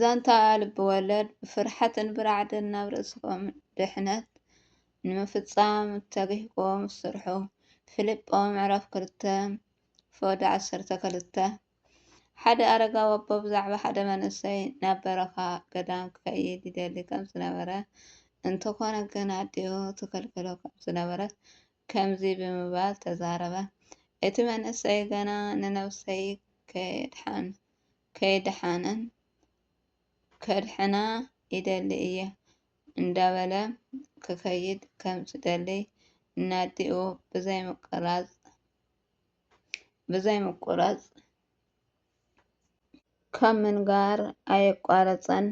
ዛንታ ልቢ ወለድ ብፍርሓትን ብራዕድን ናብ ርእስኹም ድሕነት ንምፍጻም ተግህኩም ስርሑ። ፊልጶ ምዕራፍ ክልተ ፎድ ዓሰርተ ክልተ ሓደ ኣረጋ ወቦ ብዛዕባ ሓደ መንእሰይ ናብ በረኻ ገዳም ክኸይድ ይደሊ ከም ዝነበረ እንተኾነ ግን ኣዲኡ ትከልክሎ ከም ዝነበረት ከምዚ ብምባል ተዛረበ፣ እቲ መንእሰይ ገና ንነብሰይ ከይደሓነት ከድሕና ይደሊ እየ እንዳበለ ክኸይድ ከም ዝደልይ እናዲኡ ብዘይምቁራፅ ካብ ምንጋር ኣየቋረጸን።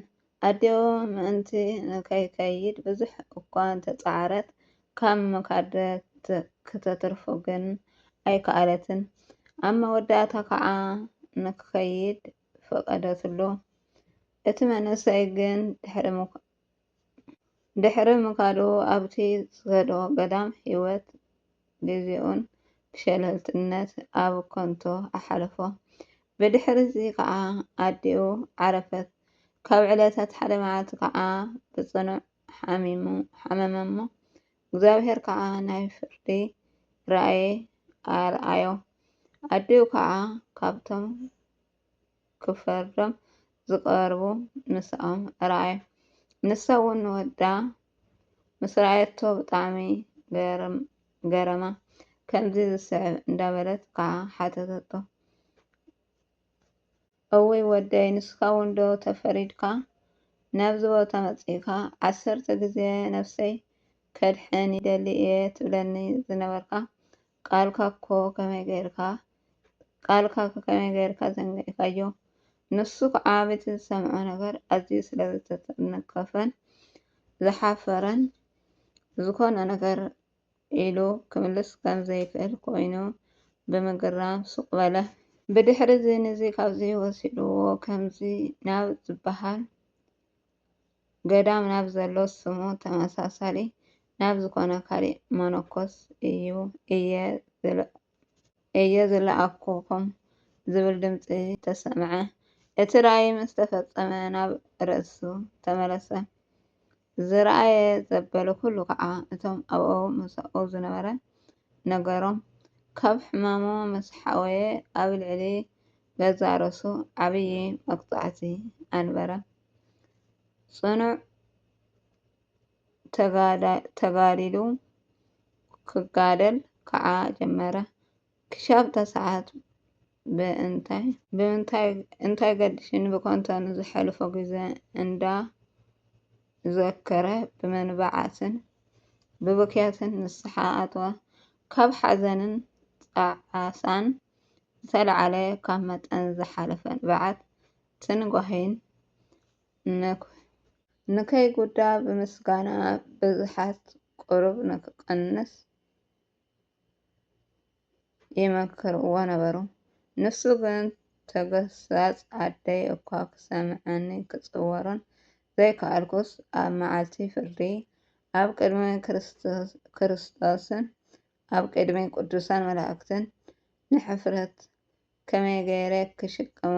ኣደኡ ምእንቲ ንኸይከይድ ብዙሕ እኳ እንተ ጸዓረት፣ ካብ ምኻድ ከተትርፎ ግን ኣይከኣለትን። ኣብ መወዳእታ ኸኣ ንኪኸይድ ፈቐደትሉ። እቲ መንእሰይ ግን ድሕሪ። ድሕሪ ምኻዱ ኣብቲ ዝኸዶ ገዳም ህይወት ግዜኡን ብሸለልትነት ኣብ ከንቶ ኣሓለፎ። ብድሕርዚ ከዓ ኣዲኡ ዓረፈት። ካብ ዕለታት ሓደ መዓልቲ ከዓ ብጽኑዕ ሓሚሙ ሓመመ እሞ እግዚኣብሔር ከዓ ናይ ፍርዲ ራእይ ኣርኣዮ። ኣዲኡ ከዓ ካብቶም ክፈርዶም ዝቐርቡ ምስኦም ርኣዩ። ንሳ እውን ንወዳ ምስ ረኣየቶ ብጣዕሚ ገረማ። ከምዚ ዝስዕብ እንዳበለት ከዓ ሓተተቶ። እውይ ወደይ ንስካ እውን ዶ ተፈሪድካ ናብዚ ቦታ መፂእካ ዓሰርተ ግዜ ነብሰይ ከድሕን ይደሊ እየ ትብለኒ ዝነበርካ ቃልካ እኮ ከመይ ገይርካ ቃልካ ከመይ ገይርካ ዘንጊዕካዮ ንሱ ከዓ በቲ ዝሰምዖ ነገር ኣዝዩ ስለ ዝተተነከፈን ዝሓፈረን ዝኾነ ነገር ኢሉ ክምልስ ከም ዘይክእል ኮይኑ ብምግራም ሱቕ በለ። ብድሕሪ እዚ ንዚ ካብዚ ወሲድዎ ከምዚ ናብ ዝበሃል ገዳም ናብ ዘሎ ስሙ ተመሳሳሊ ናብ ዝኾነ ካሊእ መነኮስ እዩ እየ ዝለኣኽኹም ዝብል ድምፂ ተሰምዐ። እቲ ራእይ ምስ ተፈጸመ ናብ ርእሱ ተመለሰ። ዝረኣየ ዘበለ ኩሉ ከዓ እቶም ኣብኡ ምሳኡ ዝነበረ ነገሮም። ካብ ሕማሙ ምስ ሓወየ ኣብ ልዕሊ ገዛ ርእሱ ዓብዪ መቅጻዕቲ ኣንበረ። ፅኑዕ ተጋዲሉ ክጋደል ከዓ ጀመረ። ክሻብ ተስዓቱ ብምንታይ ብምንታይ እንታይ ገድሽኒ ብኮንቶ ንዝሐለፎ ግዘ እንዳ ዘከረ ብመንባዓትን ብብክያትን ንስሓ ኣተወ። ካብ ሓዘንን ጣዕሳን ዝተልዓለ ካብ መጠን ዝሓለፈ ንብዓት ትንጓሄን ንከይጉዳ ብምስጋና ብዝሓት ቁሩብ ንክቐንስ ይመክርዎ ነበሩ። ንሱ ግን ተገሳጽ ኣደይ እኳ ክሰምዓኒ ክጽወሮን ዘይከኣልኩስ ኣብ መዓልቲ ፍርዲ ኣብ ቅድሚ ክርስቶስን ኣብ ቅድሚ ቅዱሳን መላእክትን ንሕፍረት ከመይ ገይረ ክሽከሞ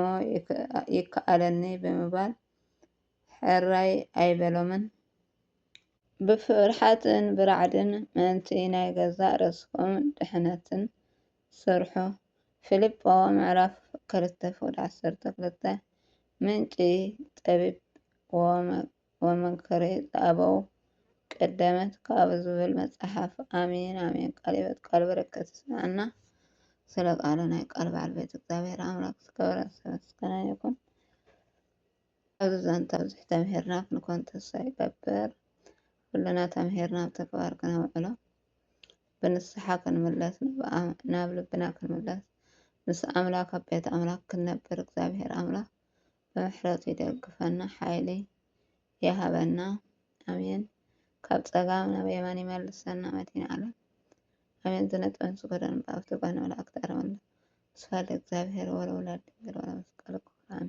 ይከኣለኒ ብምባል ሕራይ ኣይበሎምን። ብፍርሓትን ብራዕድን ምእንቲ ናይ ገዛእ ርእስኹም ድሕነትን ስርሑ። ፊልጶ ምዕራፍ ክልተ ፍቅዲ ዓሰርተ ክልተ ምንጪ ጠቢብ ወመግቢ። ወመንክሪ ዘኣበው ቀደመት ካብ ዝብል መጽሓፍ ኣሜን ኣሜን ቃል ሕይወት ቃል በረከት ይስምዐና ስለ ቃለ ናይ ቃል በዓል ቤት እግዚኣብሔር ኣምላክ ዝከበረ ዝተመስገነ ይኹን ኣብዚ ዛንታ ብዙሕ ተምሂርና ክንኮን ተስፋ ይገብር ኩልና ተምሂርና ኣብ ተግባር ክነውዕሎ ብንስሓ ክንምለስ ናብ ልብና ክንምለስ ምስ ኣምላክ ኣብ ቤት ኣምላክ ክንነብር እግዚኣብሔር ኣምላክ ብምሕረቱ ይደግፈና ሓይሊ ይሃበና ኣሜን ካብ ጸጋም ናብ የማን ይመልሰና መድን ዓለም ኣሜን ዝነጥበን ስጎደን ብኣብቲ ጓን መላእክት ኣረመለ ስፋል እግዚኣብሔር ወለውላድ ድንግል ወለመስቀል ክብራን